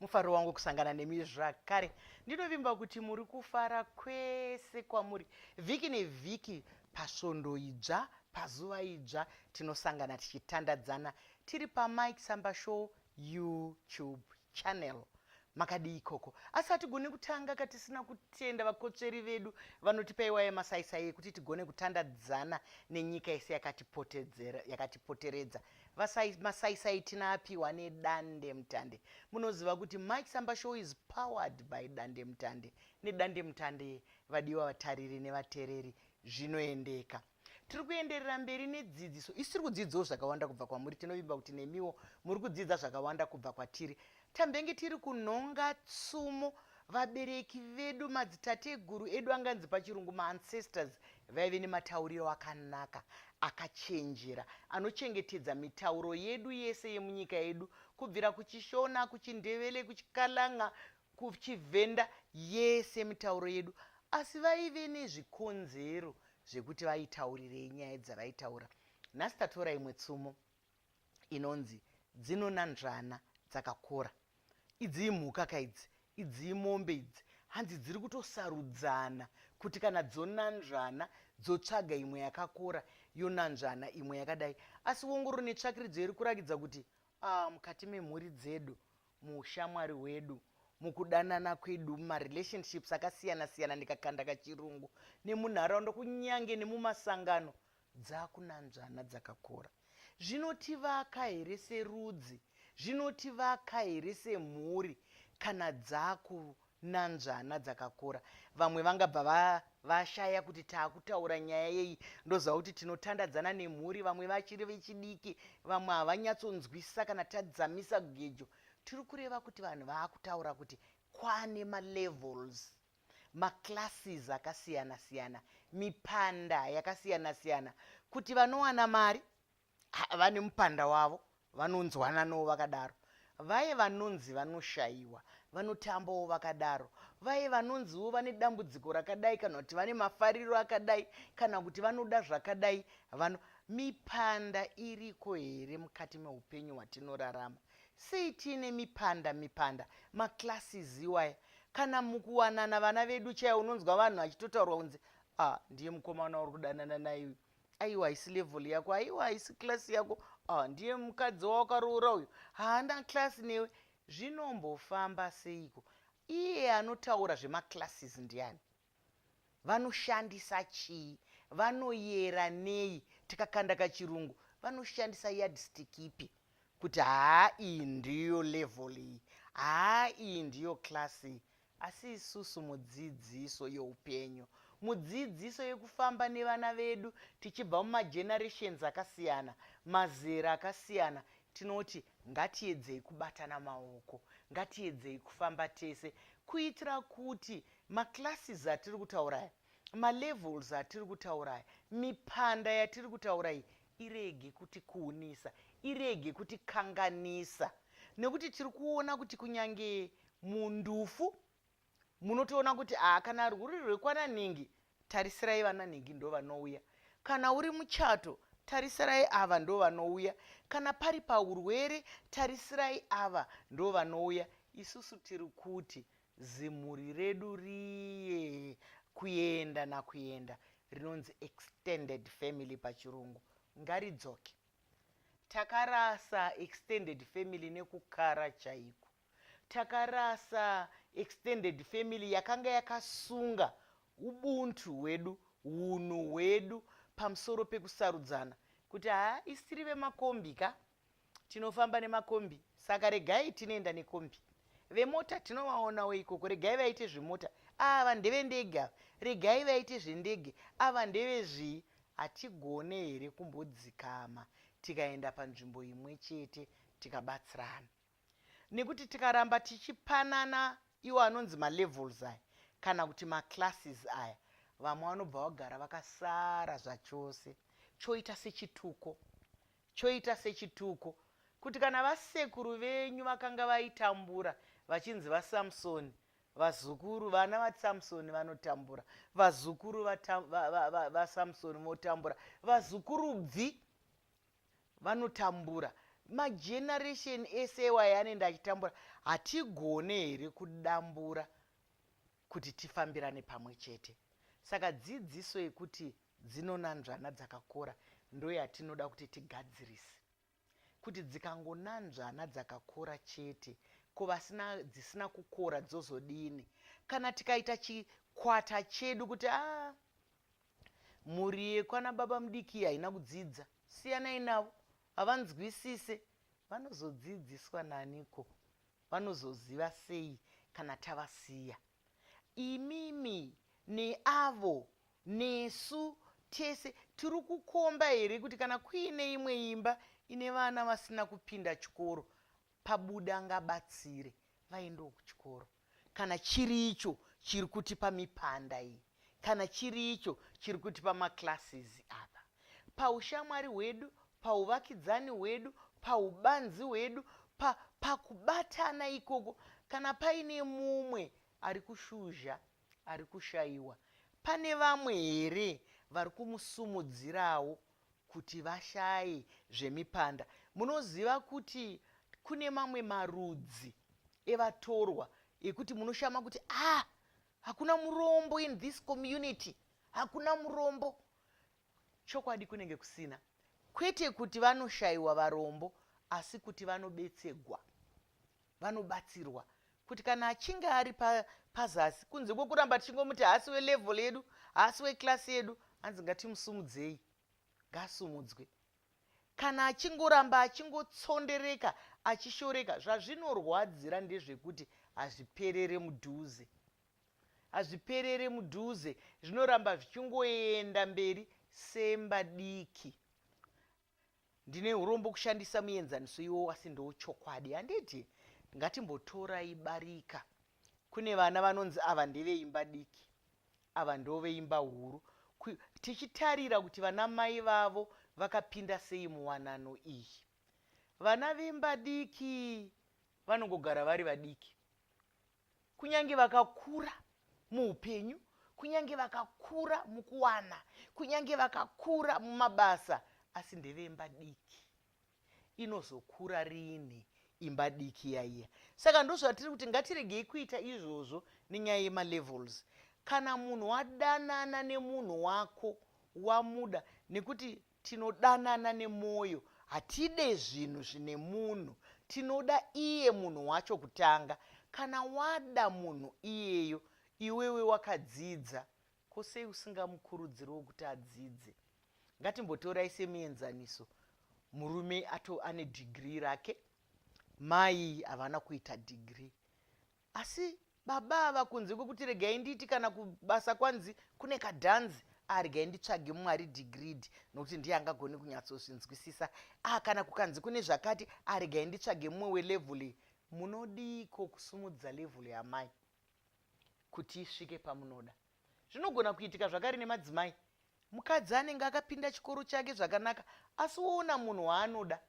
mufaro wangu kusangana nemi zvakare ndinovimba kuti muri kufara kwese kwamuri vhiki nevhiki pasvondo idzva pazuva idzva tinosangana tichitandadzana tiri pamike samba show youtube channel makadii ikoko asi hatigone kutanga katisina kutenda vakotsveri vedu vanotipa iwaye masaisai ekuti tigone kutandadzana nenyika yese yakatipoteredza Vasai, masaisai tina apiwa nedande mutande munoziva kuti mike samba show is powered by dande mutande nedande mutande vadiwa vatariri nevatereri zvinoendeka tiri kuenderera mberi nedzidziso isi tiri kudzidzawo zvakawanda kubva kwamuri tinovimba kuti nemiwo muri kudzidza zvakawanda kubva kwatiri Tambenge tiri kunhonga tsumo vabereki vedu madzitateguru edu anganzi pachirungu maancestors vaive nematauriro akanaka akachenjera anochengetedza mitauro yedu yese yemunyika yedu kubvira kuchishona kuchindevele kuchikalanga kuchivhenda yese mitauro yedu asi vaive nezvikonzero zvekuti vaitaurirei nyaya dzavaitaura nhasi tatora imwe tsumo inonzi dzinonanzvana dzakakora idzi imhuka ka idzi idzi imombe idzi hanzi dziri kutosarudzana kuti kana dzonanzvana dzotsvaga imwe yakakora yonanzvana imwe yakadai asi wongororo netsvakiridzo iri kurakidza kuti ah, mukati memhuri dzedu muushamwari hwedu mukudanana kwedu mumarelationships akasiyana siyana ndikakanda kachirungu nemunharaunda kunyange nemumasangano Dzakunanzvana dzakakora zvinotivaka here serudzi, zvinotivaka here semhuri kana dzakunanzvana dzakakora? Vamwe vangabva va, vashaya kuti taakutaura nyaya yeyi ndoziva kuti tinotandadzana nemhuri, vamwe vachiri vechidiki, vamwe havanyatsonzwisisa kana tadzamisa gejo. Tiri kureva kuti vanhu vaakutaura kuti kwane malevels maclasses akasiyana siyana mipanda yakasiyana siyana kuti vanowana mari vane mupanda wavo vanonzwananawo vakadaro vaye vanonzi vanoshayiwa vanotambawo vakadaro vaye vanonziwo vane dambudziko rakadai kana kuti vane mafariro akadai kana kuti vanoda zvakadai vano mipanda iriko here mukati meupenyu hwatinorarama Sei tiine mipanda mipanda maclasses iwaya kana mukuwanana vana vedu chaiwo unonzwa vanhu vachitotaurwa kunzi ah ndiye mukomana uri kudanana naiwe aiwa haisi level yako aiwa haisi class yako ah ndiye mukadzi wawakaroora uyu haana class newe zvinombofamba seiko iye anotaura zvemaclasses ndiani vanoshandisa chii vanoyera nei tikakanda kachirungu vanoshandisa yardstick ipi kuti haa iyi ndiyo level iyi haa iyi ndiyo class iyi asi isusu mudzidziso youpenyu mudzidziso yekufamba nevana vedu tichibva mumagenerations akasiyana mazera akasiyana tinoti ngatiedzei kubatana maoko ngatiedzei kufamba tese kuitira kuti Maclasses atiri kutaura aya, malevels atiri kutaura aya, mipanda yatiri kutaura iyi irege kutikuunisa, irege kutikanganisa nekuti tiri kuona kuti kunyange mundufu munotoona kuti aa kana rwuri rwekwananhingi tarisirai vananhingi ndo vanouya kana uri muchato tarisirai ava ndo vanouya kana pari paurwere tarisirai ava ndo vanouya isusu tiri kuti Zimhuri redu riye kuenda nakuenda rinonzi extended family pachirungu ngaridzoke. Takarasa extended family nekukara chaiko. Takarasa extended family yakanga yakasunga ubuntu hwedu, hunhu hwedu pamusoro pekusarudzana kuti haa isiri vemakombi ka tinofamba nemakombi saka regai tinoenda nekombi vemota tinovaonawo ikoko regai vaite zvemota ava ndevendege ava regai vaite zvendege ava ndevezvii hatigone here kumbodzikama tikaenda panzvimbo imwe chete tikabatsirana nekuti tikaramba tichipanana iwo anonzi malevels aya kana kuti maclasses aya vamwe vanobva vagara vakasara zvachose choita sechituko choita sechituko kuti kana vasekuru venyu vakanga vaitambura vachinzi vasamsoni vazukuru vana vasamsoni vanotambura vazukuru vasamsoni votambura vazukuru bvi vanotambura mageneration ese iwayo anoenda achitambura hatigone here kudambura kuti tifambirane pamwe chete saka dzidziso yekuti dzinonanzvana dzakakora ndoyatinoda kuti tigadzirise kuti dzikangonanzvana dzakakora chete ko vasina dzisina kukora dzozodini kana tikaita chikwata chedu kuti a ah, mhuri yekwana baba mudiki haina kudzidza siyanai navo havanzwisise vanozodzidziswa naniko vanozoziva sei kana tavasiya imimi neavo nesu tese tiri kukomba here kuti kana kuine imwe imba ine vana vasina kupinda chikoro pabuda ngabatsire vaendewo kuchikoro Kana chiri icho chiri kutipa mipanda iyi, kana chiri icho chiri kutipa maclasses apa, paushamwari hwedu, pauvakidzani hwedu, paubanzi hwedu, pa, pakubatana ikoko, kana paine mumwe ari kushuzha, ari kushaiwa, pane vamwe here vari kumusumudzirawo kuti vashaye zvemipanda. Munoziva kuti kune mamwe marudzi evatorwa ekuti munoshama kuti ah hakuna murombo in this community hakuna murombo chokwadi kunenge kusina kwete kuti vanoshayiwa varombo asi kuti vanobetsegwa vanobatsirwa kuti kana achinge ari pazasi pa kunze kwekuramba tichingomuti haasi welevel yedu haasi weclasi yedu hanzi ngatimusumudzei ngaasumudzwe kana achingoramba achingotsondereka achishoreka zvazvinorwadzira ndezvekuti hazviperere mudhuze hazviperere mudhuze zvinoramba zvichingoenda mberi semba diki ndine urombo kushandisa muenzaniso iwo asi ndo chokwadi handiti ngatimbotorai barika kune vana vanonzi ava ndeveimba diki ava ndo veimba huru tichitarira kuti vana mai vavo vakapinda sei muwanano iyi vana vemba diki vanongogara vari vadiki kunyange vakakura muupenyu kunyange vakakura mukuwana kunyange vakakura mumabasa asi ndevemba diki inozokura rini imba diki yaiya saka ndozvatiri kuti ngatiregei kuita izvozvo nenyaya yemalevels kana munhu wadanana nemunhu wako wamuda nekuti Tinodanana nemwoyo, hatide zvinhu zvine munhu. Tinoda iye munhu wacho kutanga. Kana wada munhu iyeyo, iwewe wakadzidza, ko sei usingamukurudziriwo kuti adzidze? Ngatimbotorai semienzaniso, murume ato ane dhigiri rake, mai havana kuita dhigiri. Asi baba ava kunze kwekuti regai ndiiti kana kubasa kwanzi kune kadhanzi ah regai nditsvage mumwe ari digridi nokuti ndiye angagoni kunyatsozvinzwisisa ah kana kukanzi kune zvakati ah regai nditsvage mumwe welevhuli munodiiko kusumudza levhuli yamai kuti isvike pamunoda zvinogona kuitika zvakari nemadzimai mukadzi anenge akapinda chikoro chake zvakanaka asi woona munhu waanoda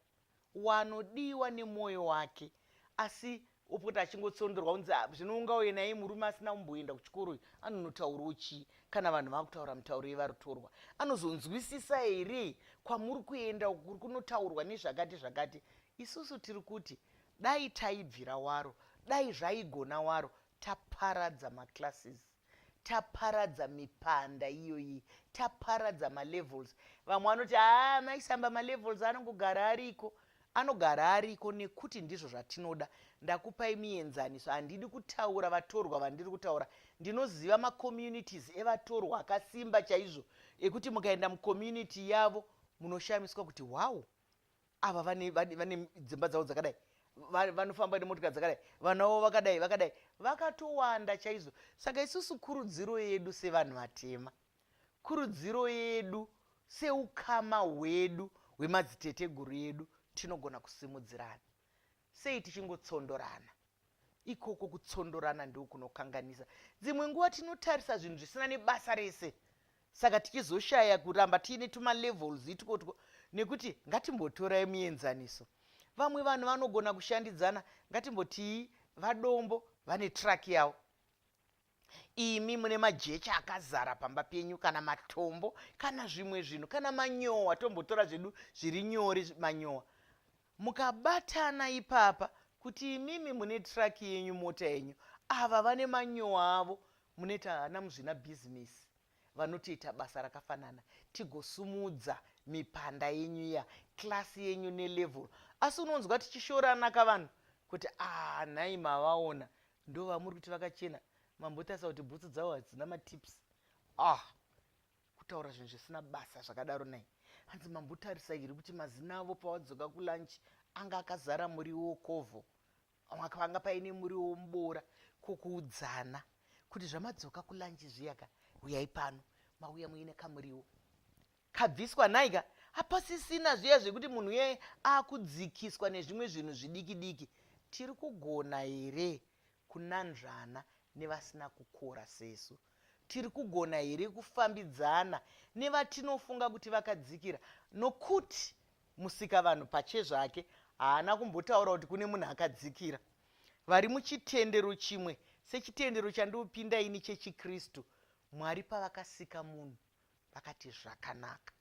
wanodiwa nemwoyo wake asi opota achingotsondorwa kunzi "Ah, zvino ungauye naye murume asina kumboenda kuchikoro uyu anonotaurawo chii kana vanhu vakutaura mitauro yevarutorwa anozonzwisisa here kwamuri kuenda uku kuri kunotaurwa nezvakati zvakati isusu tiri kuti dai taibvira waro dai zvaigona waro taparadza maclasses taparadza mipanda iyoyi taparadza malevels vamwe vanoti haa ah, maisamba malevels anongogara ariko anogara ariko nekuti ndizvo zvatinoda ndakupai mienzaniso handidi kutaura vatorwa vandiri kutaura ndinoziva macommunities evatorwa akasimba chaizvo ekuti mukaenda mucommunity yavo munoshamiswa kuti wow ava vane vane- vane dzimba dzavo dzakadai Va- vanofamba nemotika dzakadai vana vavo vakadai vakadai vakatowanda chaizvo saka isusu kurudziro yedu sevanhu vatema kurudziro yedu seukama hwedu hwemadziteteguru edu tinogona kusimudzirana Sei tichingotsondorana? Ikoko kutsondorana ndiko kunokanganisa. Dzimwe nguva tinotarisa zvinhu zvisina nebasa rese, saka tichizoshaya kuramba tiine tumalevels itwotwo nekuti ngatimbotorai muenzaniso. Vamwe vanhu vanogona kushandidzana, ngatimbotii vadombo vane truck yavo imi mune majecha akazara pamba penyu kana matombo kana zvimwe zvinhu kana manyowa tombotora zvedu zviri nyori manyowa mukabatana ipapa kuti imimi mune traki yenyu mota yenyu ava vane manyowa avo munoita hana muzvina bhizimisi vanotoita basa rakafanana tigosumudza mipanda yenyu iya klasi yenyu nelevel asi unonzwa tichishorana ka vanhu kuti ah nhai mavaona Ndovamuri kuti vakachena mambotarisa kuti bhutsu dzavo hadzina matips ah kutaura zvinhu zvisina basa zvakadaro nai hanzi mambotarisa iri kuti mazina avo pawadzoka kulunch anga akazara muriwo wokovho panga paine muriwo womuboora kokuudzana kuti zvamadzoka kulunch zviyaka uyai pano mauya muine kamuriwo kabviswa nhaika hapasisina zviya zvekuti munhu uyai akudzikiswa nezvimwe zvinhu zvidiki diki tiri kugona here kunanzvana nevasina kukora sesu tiri kugona here kufambidzana nevatinofunga kuti vakadzikira nokuti musika vanhu pache zvake haana kumbotaura kuti kune munhu akadzikira vari muchitendero chimwe sechitendero chandiopinda ini chechikristu mwari pavakasika munhu vakati zvakanaka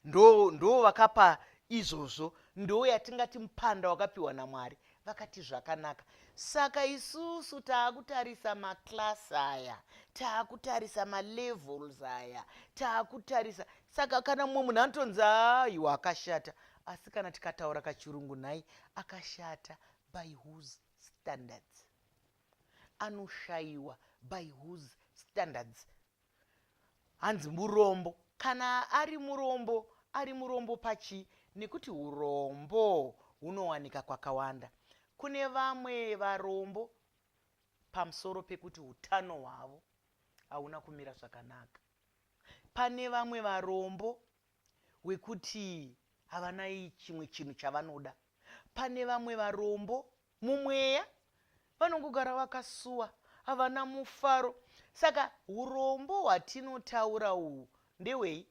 ndo ndo vakapa izvozvo ndo yatingati mupanda wakapiwa namwari vakati zvakanaka saka isusu taakutarisa maclass aya taakutarisa malevels aya taakutarisa saka kana mumwe munhu anotonzi aiwa akashata asi kana tikataura kachirungu nhai akashata by whose standards anoshayiwa by whose standards hanzi murombo kana ari murombo ari murombo pachii nekuti urombo hunowanika kwakawanda kune vamwe varombo pamusoro pekuti utano hwavo hauna kumira zvakanaka pane vamwe varombo wekuti havana chimwe chinhu chavanoda pane vamwe varombo mumweya vanongogara vakasuwa havana mufaro saka urombo hwatinotaura uhu ndewei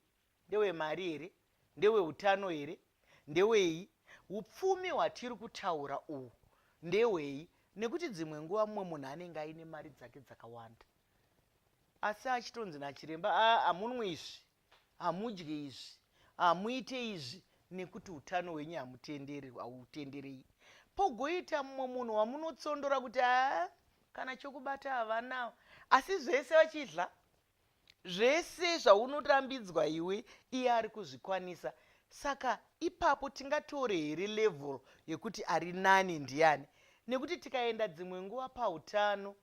ndewemari here ndeweutano here ndewei upfumi hwatiri kutaura uhu ndewei nekuti dzimwe nguva mumwe munhu anenge aine mari dzake dzakawanda asi achitonzi nachiremba amunwi izvi hamudye izvi hamuite izvi nekuti utano hwenyu hamutenderi hautenderei pogoita mumwe munhu wamunotsondora kuti haa kana chokubata havanawo asi zvese vachidla zvese zvaunorambidzwa iwe iye ari kuzvikwanisa saka ipapo tingatore here level yekuti ari nani ndiani nekuti tikaenda dzimwe nguva pautano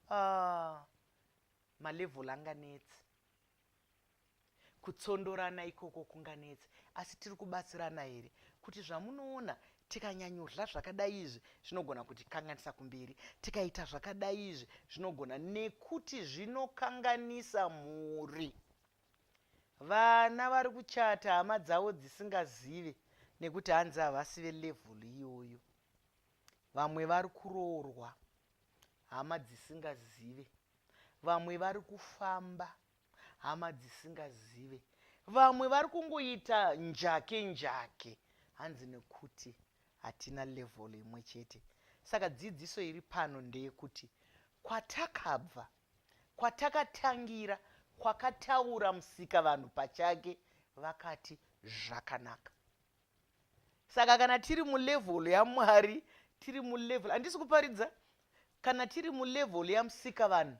ah, malevel anganetsi Kutsondorana ikoko kunganetse asi tiri kubatsirana here kuti zvamunoona tikanyanyodla zvakadai izvi zvinogona kutikanganisa kumberi tikaita zvakadai izvi zvinogona nekuti zvinokanganisa mhuri vana vari kuchata hama dzavo dzisingazive nekuti hanzi havasi velevel iyoyo vamwe vari kuroorwa hama dzisingazive Vamwe vari kufamba hama dzisingazive. Vamwe vari kungoita njake njake hanzi nekuti hatina level imwe chete. Saka dzidziso iri pano ndeyekuti kwatakabva, kwatakatangira, kwakataura musika vanhu pachake vakati zvakanaka. saka kana tiri mulevel yamwari tiri mulevel handisi kuparidza kana tiri mulevel yamusika vanhu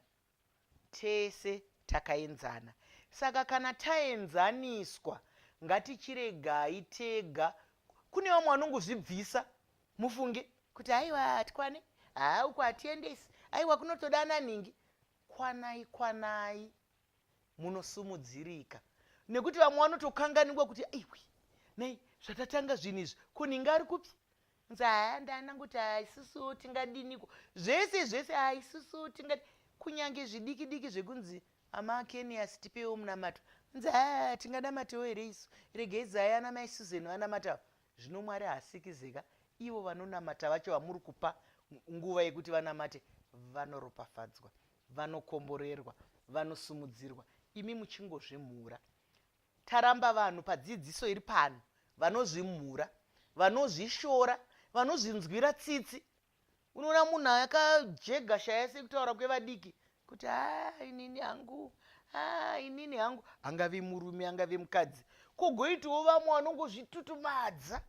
tese takaenzana saka kana taenzaniswa ngatichiregai tega kune vamwe vanongozvibvisa mufunge kuti haiwa hatikwane haa uku hatiendesi aiwa kunotoda ananhingi kwanai kwanai munosumudzirika nekuti vamwe vanotokanganingwa kuti aiwi nei zvatatanga zvinhu izvi kuninga ari kupi nzaya ndaana kuti haisusu tingadiniko zvese zvese haisusu tinga kunyange zvidiki diki zvekunzi amakenias tipewo munamato nzaya tinganamatewo here isu regei zaya ana mai susan vanamatawo zvino mwari haasikizeka ivo vanonamata vacho vamuri kupa nguva yekuti vanamate vanoropafadzwa vanokomborerwa vanosumudzirwa imi muchingozvimhura taramba vanhu padzidziso iri pano vanozvimhura vanozvishora vanozvinzwira tsitsi unoona munhu akajega shaya sekutaura kwevadiki kuti a ah, inini hangu a ah, inini hangu angave murume angave mukadzi kogoitawo vamwe vanongozvitutumadza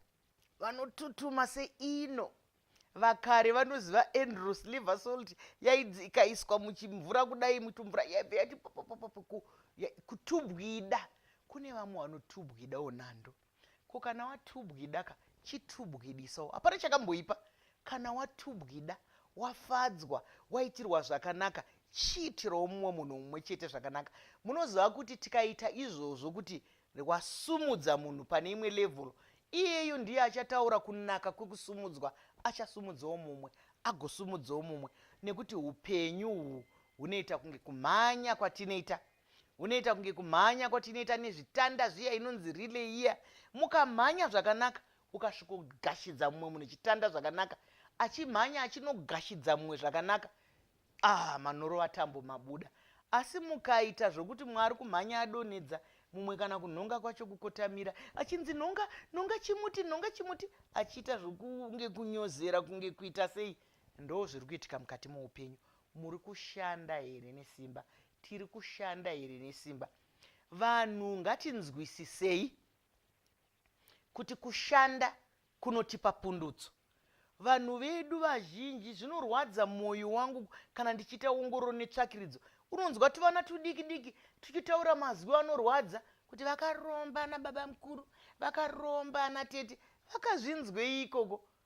vanotutuma seino vakare vanoziva andrew sliver salt yaidzi ikaiswa muchimvura kudai mutumvura yaibva yati popopopopo kutubwida kune vamwe vanotubwidawo nhando ko kana watubwida ka chitubwidisawo hapana chakamboipa kana watubwida wafadzwa waitirwa zvakanaka chiitirawo mumwe munhu mumwe chete zvakanaka munoziva kuti tikaita izvozvo kuti Rewasumudza munhu pane imwe level iyeyo ndiye achataura kunaka kwekusumudzwa achasumudzawo mumwe agosumudzawo mumwe nekuti upenyu uhwu hunoita kunge kumhanya kwatinoita hunoita kunge kumhanya kwatinoita nezvitanda zviya inonzi rileiya mukamhanya zvakanaka ukasvikogashidza mumwe munhu chitanda zvakanaka achimhanya achinogashidza mumwe zvakanaka Ah, manhoro atambo mabuda. Asi mukaita zvokuti mwari kumhanya adonedza mumwe kana kunhonga kwacho kukotamira achinzi nhonga nhonga chimuti nhonga chimuti achiita zvokunge kunyozera kunge kuita sei ndo zviri kuitika mukati moupenyu muri kushanda here nesimba tiri kushanda here nesimba vanhu ngatinzwisisei kuti kushanda kunotipa pundutso vanhu vedu vazhinji zvinorwadza mwoyo wangu kana ndichiita ongororo netsvakiridzo unonzwa tuvana tudiki diki tuchitaura mazwi anorwadza kuti vakaromba ana baba mukuru vakaromba ana tete vakazvinzwei ikoko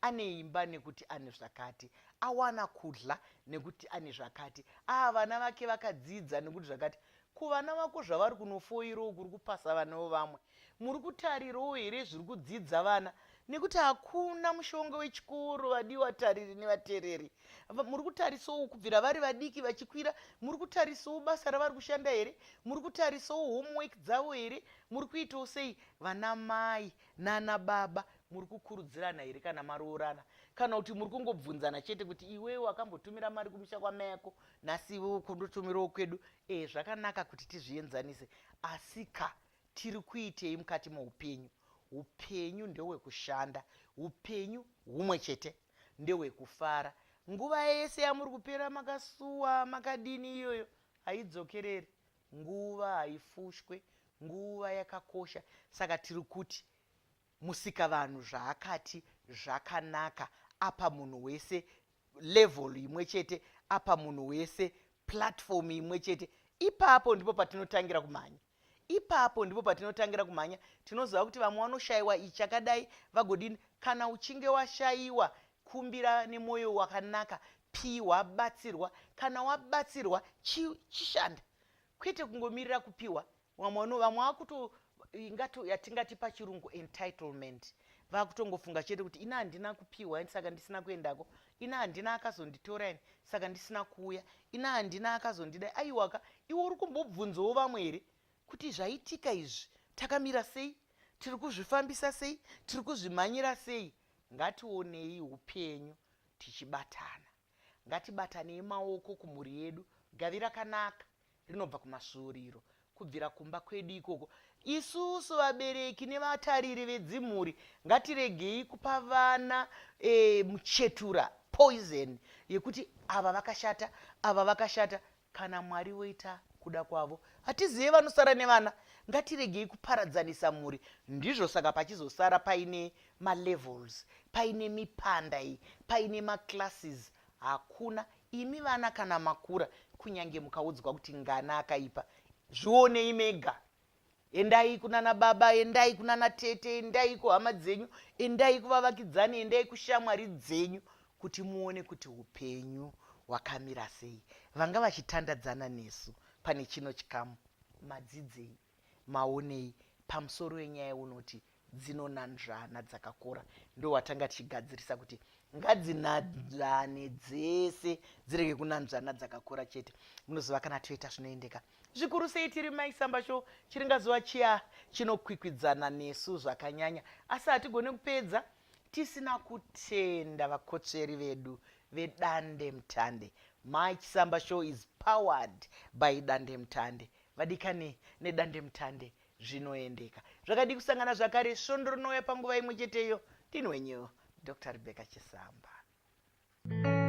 ane imba nekuti ane zvakati awana kudla nekuti ane zvakati aa ah, vana vake vakadzidza nekuti zvakati kuvana vako zvavari kunofoirawo kuri kupasa vana vevamwe muri kutarirawo here zviri kudzidza vana nekuti hakuna mushonga wechikoro vadii watariri nevatereri muri kutarisawo kubvira vari vadiki vachikwira muri kutarisawo basa ravari kushanda here muri kutarisawo homework dzavo here muri kuitawo sei vana mai nana baba Muri kukurudzirana here kana maroorana kana kuti muri kungobvunzana chete kuti iwewe wakambotumira mari kumusha kwamai yako nhasi iwewe ukondotumirawo kwedu e zvakanaka kuti tizvienzanise asi ka tiri kuitei mukati moupenyu upenyu ndewekushanda upenyu humwe chete ndewekufara nguva yese yamuri kupera makasuwa makadini iyoyo haidzokereri nguva haifushwe nguva yakakosha saka tiri kuti Musikavanhu zvaakati zvakanaka apa munhu wese level imwe chete apa munhu wese platform imwe chete ipapo ndipo patinotangira kumhanya ipapo ndipo patinotangira kumhanya tinoziva kuti vamwe vanoshayiwa ichakadai vagodini kana uchinge washayiwa kumbira nemwoyo wakanaka piwa batsirwa kana wabatsirwa chishanda kwete kungomirira kupiwa vamwe vano vamwe vakuto ingato yatingati pachirungu entitlement vakutongofunga chete kuti ina handina kupiwa ini saka ndisina kuendako ina handina akazonditora ini saka ndisina kuuya ina handina akazondida aiwaka iwe uri kumbobvunzawo vamwe here kuti zvaitika izvi takamira sei tiri kuzvifambisa sei tiri kuzvimhanyira sei ngationei upenyu tichibatana Ngatibatanei maoko kumhuri yedu. Gavi rakanaka rinobva kumasvuuriro, kubvira kumba kwedu ikoko. Isusu vabereki nevatariri vedzimhuri ngatiregei kupa vana e, muchetura poison yekuti ava vakashata, ava vakashata. kana mwari voita kuda kwavo hatizive vanosara nevana ngatiregei kuparadzanisa mhuri ndizvo saka pachizosara paine malevels paine mipanda iyi paine maclasses hakuna imi vana kana makura kunyange mukaudzwa kuti ngana akaipa zvionei mega endai kunana baba endai kunana tete endai kuhama dzenyu endai kuvavakidzani endai kushamwari dzenyu kuti muone kuti upenyu hwakamira sei vanga vachitandadzana nesu pane chino chikamu madzidzei maonei pamusoro wenyaya unoti dzinonanzvana dzakakora ndohwatanga tichigadzirisa kuti ngadzinanzvane dzese dzirege kunanzvana dzakakora chete munoziva kana toita zvinoendeka zvikuru sei tiri maisamba sho chiringazuva chiya chinokwikwidzana nesu zvakanyanya asi hatigone kupedza tisina kutenda vakotsveri vedu vedande mutande my chisamba show is powered by dande mutande vadikani nedande mutande zvinoendeka zvakadii kusangana zvakare svondo rinouya panguva imwe cheteyo ndini wenyu dr rebecca chisamba thank you